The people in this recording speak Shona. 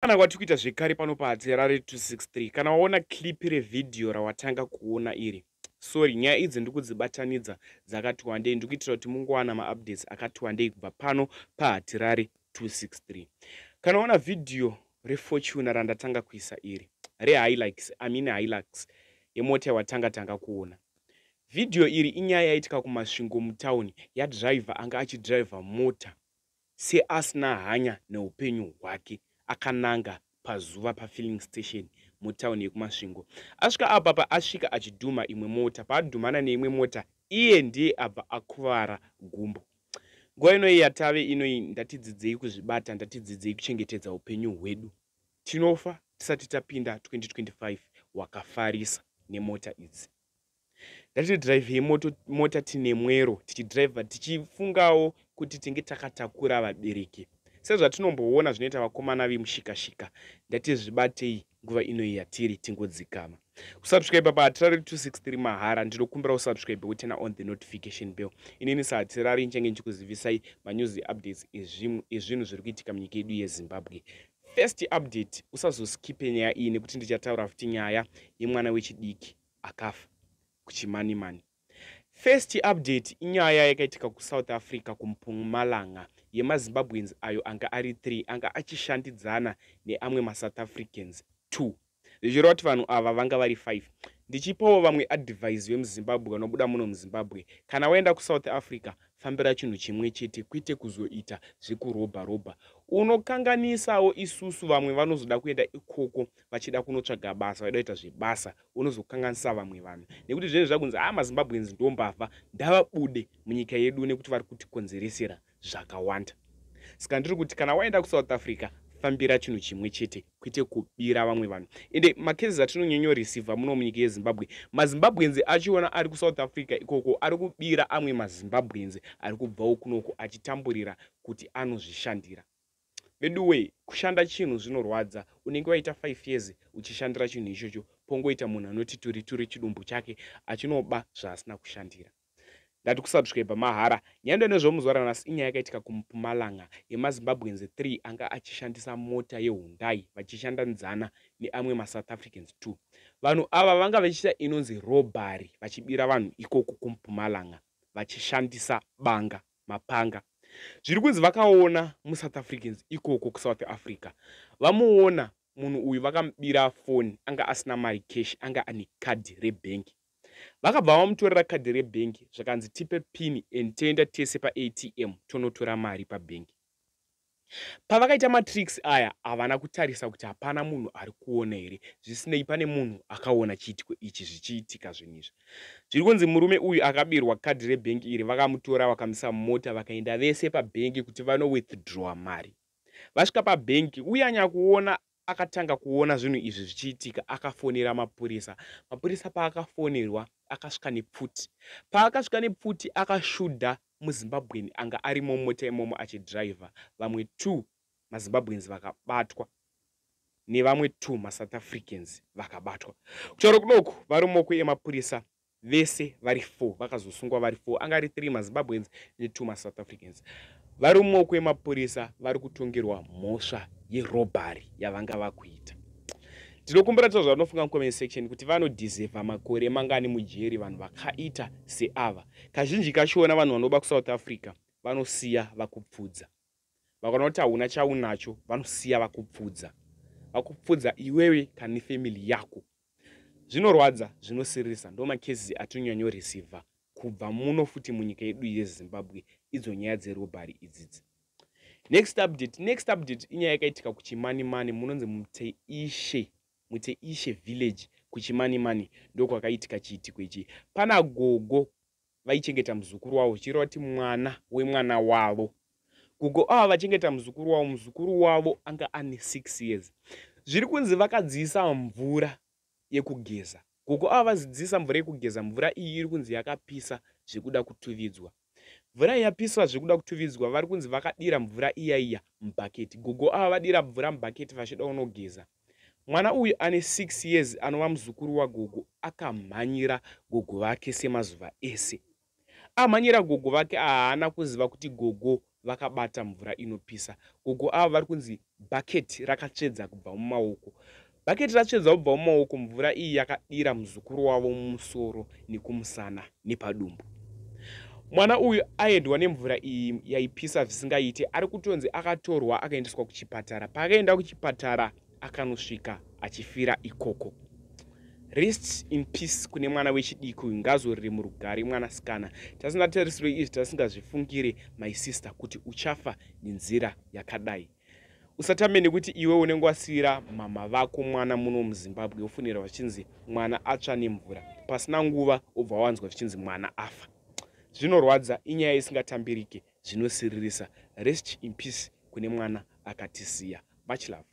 kana kwati kuita zvekare pano paadzera re 263 kana waona clip revhidhiyo rawatanga kuona iri sorry nyaya idzi ndiri kudzibatanidza dzakati wandei ndiri kuitira kuti mungowana maupdates akati wandei kubva pano pahatirari 263 kana waona vhidhiyo refortuna randatanga kuisa iri rehilax amine hilax yemota yawatanga tanga kuona Vhidhiyo iri inyaya yaitika kuMasvingo mutauni yadhiraivha anga achidhiraivha mota seasina hanya neupenyu hwake akananga pazuva pafilling station mutauni yekuMasvingo. Asvika apa paasvika achidhumha imwe mota, paadhumhana neimwe mota iye ndiye abva akuvara gumbo. Nguva inoi yatave inoi ndatidzidzei kuzvibata, ndatidzidzei kuchengetedza upenyu hwedu. Tinofa tisati tapinda 2025 wakafarisa nemota idzi. Ngatidrivhei moto mota tine mwero tichidrivha tichifungawo kuti tinge takatakura vabereki. Sezvatinomboona zvinoita vakomana vemushikashika ndatizvibatei nguva inoyi yatiri tingodzikama. kusubscribe pa hatirari 263 mahara ndinokumbira usubscribe wotena on the notification bell inini sahatirari nchange ndichikuzivisai manews updates ezvinhu zviri kuitika munyika yedu yezimbabwe first update usazoskipe nyaya iyi nekuti ndichataura futi nyaya yemwana wechidiki akafa kuchimanimani First update inyaya yakaitika kuSouth Africa kuMpumalanga yemaZimbabweans ayo anga ari 3 anga achishandidzana neamwe maSouth Africans 2 zvichireva kuti vanhu ava vanga vari 5 ndichipawo vamwe advise vemuzimbabwe vanobuda muno muzimbabwe kana waenda kusouth africa fambira chinhu chimwe chete kwete kuzoita zvekurobha robha unokanganisawo isusu vamwe vanozoda kuenda ikoko vachida kunotsvaga basa vaida kuita zvebasa unozokanganisa vamwe vanhu nekuti zvinenge zvakunzi haa mazimbabweans ndo mbavha ndavabude munyika yedu nekuti vari kutikonzeresera zvakawanda saka ndiri kuti kana waenda kusouth africa fambira chinhu chimwe chete kwete kubira vamwe vanhu ende makezes atinonyonyoreceiva muno munyika yezimbabwe mazimbabwenzi achiona ari kusouth africa ikoko ari kubira amwe mazimbabwenzi ari kubvawo kunoko achitamburira kuti anozvishandira Veduwee kushanda chinhu zvinorwadza unenge waita five years uchishandira chinhu ichocho pongoita munhu anoti turi turi chidumbu chake achinoba zvaasina kushandira. Ndati kusubscriber mahara. Nyando nezvemuzuva ranhasi inyaya yakaitika kuMpumalanga yemaZimbabweans three anga achishandisa mota yeHundai vachishanda nzana neamwe maSouth Africans two. Vanhu ava vanga vachiita inonzi robbery vachibira vanhu ikoku kuMpumalanga vachishandisa banga. mapanga zviri kunzi vakaona musouth africans ikoko kusouth africa vamuona munhu uyu vakamubira foni anga asina mari cash anga ane kadhi rebhengi vakabva vamutorera kadhi rebhengi zvakanzi tipe pini and toenda tese paatm tonotora mari pabhengi Pavakaita matricks aya havana kutarisa kuti hapana munhu ari kuona here zvisinei pane munhu akaona chiitiko ichi zvichiitika zvinhu izvi. Zviri kunzi murume uyu akabirwa kadhi rebhengi iri vakamutora vakamisa mumota vakaenda vese pabhengi kuti vano withdrawer mari. Vasvika pabhengi uye anyakuona Akatanga kuona zvinhu izvi zvichiitika akafonera mapurisa. Mapurisa paakafonerwa akasvika nepfuti. Paakasvika nepfuti akashudha muZimbabwean anga arimo mumota imomo achidriver. Vamwe two maZimbabweans vakabatwa nevamwe two maSouth Africans vakabatwa. Kutaura kudoku varumoku emapurisa vese vari four vakazosungwa vari four anga ari three mazimbabweans netwo masouth africans vari mumaoko emapurisa vari kutongerwa mhosva yerobhari yavanga vakuita tinokumbira tira zvavanofunga mucomment section kuti vanodhizevha makore mangani mujeri vanhu vakaita seava kazhinji kachona vanhu vanoba kusouth africa vanosiya vakupfudza vakaona kuti hauna chaunacho vanosiya vakupfudza vakupfudza iwewe kane family yako Zvinorwadza zvinosirisa ndoma cases atinyanyo receiver kubva muno futi munyika yedu yezimbabwe idzo nyaya dzerobhari idzidzi next update next update inyaya yakaitika kuchimanimani munonzi muteishe muteishe village kuchimanimani ndokwakaitika chiitiko ichi pana gogo vaichengeta muzukuru wavo zvichireva kuti mwana wemwana wavo gogo ava vachengeta muzukuru wavo muzukuru wavo anga ane six years zviri kunzi vakadziisa mvura yekugeza gogo ava vazidziisa mvura yekugeza mvura iyi iri kunzi yakapisa zvekuda kutuvidzwa mvura yapiswa zvekuda kutuvidzwa vari kunzi vakadira mvura iya iya mubhaketi gogo ava vadira mvura mubhaketi vachida unogeza Mwana uyu ane 6 years anova muzukuru wagogo akamhanyira gogo vake semazuva ese. Amhanyira gogo vake haana kuziva kuti gogo vakabata mvura inopisa. Gogo ava vari kunzi bhaketi rakatsvedza kubva mumaoko. Bhaketi ratsvedza kubva mumaoko mvura iyi yakadira muzukuru wavo mumusoro nekumusana nepadumbu. Mwana uyu aendwa nemvura iyi yaipisa zvisingaite ari kutonzi akatorwa akaendeswa kuchipatara. Paakaenda kuchipatara akanosvika achifira ikoko. Rest in peace kune mwana wechidiki uyu ngazorire murugare mwanasikana. Tasina tarisiro izvi tasingazvifungire my sister kuti uchafa nenzira yakadai. usatame nekuti iwe unenge wasiyira mama vako mwana muno muzimbabwe ufunira vachinzi mwana atsva nemvura pasina nguva ubva wanzwa zvichinzi mwana afa zvinorwadza inyaya isingatambirike zvinosiririsa rest in peace kune mwana akatisiya much love